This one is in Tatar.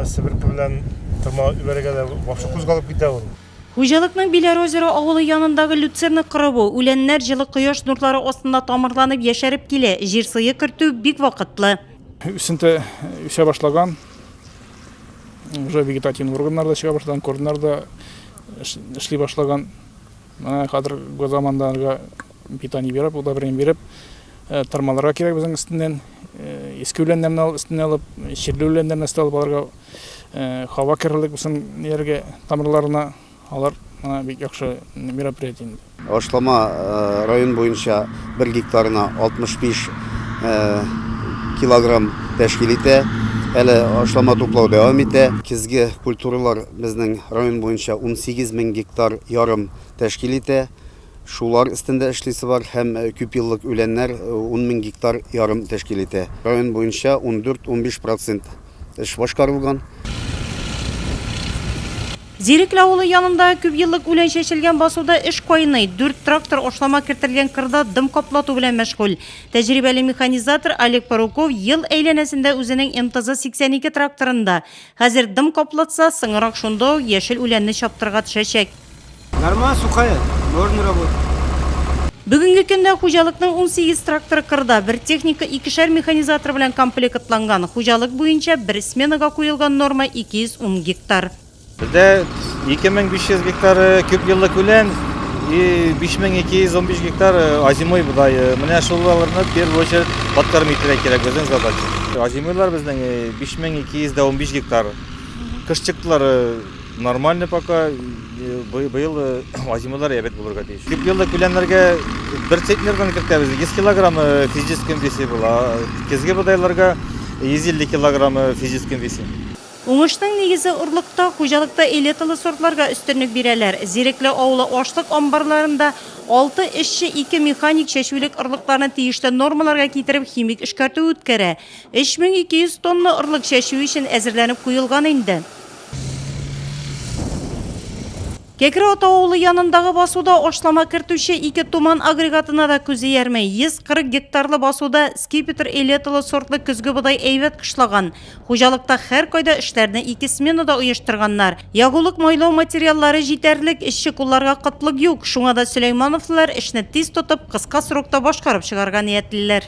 себерке белән тырма үбәргә дә башы кузгалып китә ул Хуҗалыкның Биләр озеро авылы янындагы люцерна кырыбу, үләннәр җылы кояш нурлары астында тамырланып яшәреп килә, җир сые кертү бик вакытлы. Үсенте үсә башлаган, уже вегетативный органнар да чыга башлаган, корннар да эшли башлаган. Менә хәзер замандарга питание биреп, удобрение биреп, э, тырмаларга кирәк безнең өстеннән. Э, иске үләннәрне алып, өстенә алып, чирле үләннәрне өстә алып аларга э, һава керерлек булсын ниләргә тамырларына. Алар менә бик яхшы мероприятие инде. Ашлама район буенча бер гектарына 65 килограмм тәшкил итә. Әле ашлама туплау дәвам итә. Кизге культуралар Безнең район буенча унсигез мең гектар ярым тәшкил итә. Шулар өстендә эшлисе бар һәм күпьеллык үләннәр ун мең гектар ярым тәшкил итә. Район буенча ундүрт-унбиш процент эш башкарылган. Зирекле авылы янында күпьеллык үлән чәчелгән басуда эш кайный. Дүрт трактор ашлама кертелгән кырда дым каплату белән мәшгуль. Тәҗрибәле механизатор Олег Паруков ел әйләнәсендә үзенең МТЗ-82 тракторында Хәзер дым каплатса, соңырак шунда ук яшел үләнне чаптырга төшәчәк. Нормально сухая, можно работать. Бүгенге көндә хуҗалыкның унсигез тракторы кырда, бер техника икешәр механизатор белән комплектланган. Хуҗалык буенча бер сменага куелган норма 210 гектар. Бездә 2500 гектары күпьеллык үлән и 5215 гектар озимой бодае. Менә шуларны в первую очередь подкормить итәргә кирәк, безнең задача. Озимойлар безнең 5215 гектар. Кыш чыктылары нормально пока. Быел озималары әбәт булырга тиеш. Күп елда күләннәргә бер центнердан кертәбез. 100 килограмм физическим весе була. Кезге бодайларга 150 килограмм физическим весе. Уңышның нигезе орлыкта, хуҗалыкта элеталы сортларга өстенлек бирәләр. Зирекле авылы ашлык амбарларында алты эшче ике механик чәчүлек орлыкларны тиешле нормаларга китереп химик эшкәртү үткәрә. 3200 тонна орлык чәчү өчен әзерләнеп куелган инде. Кәкре Ата авылы янындагы басуда ашлама кертүче ике Туман агрегатына да күз иярми. 140 гектарлы басуда Скипетр элеталы сортлы көзге бодай әйбәт кышлаган. Хуҗалыкта һәркайда эшләрне ике сменада оештырганнар. Ягулык майлау материаллары җитәрлек, эшче кулларга кытлык юк. Шуңа да Сөләймановлылар эшне тиз тотып, кыска срокта башкарып чыгарга ниятлиләр.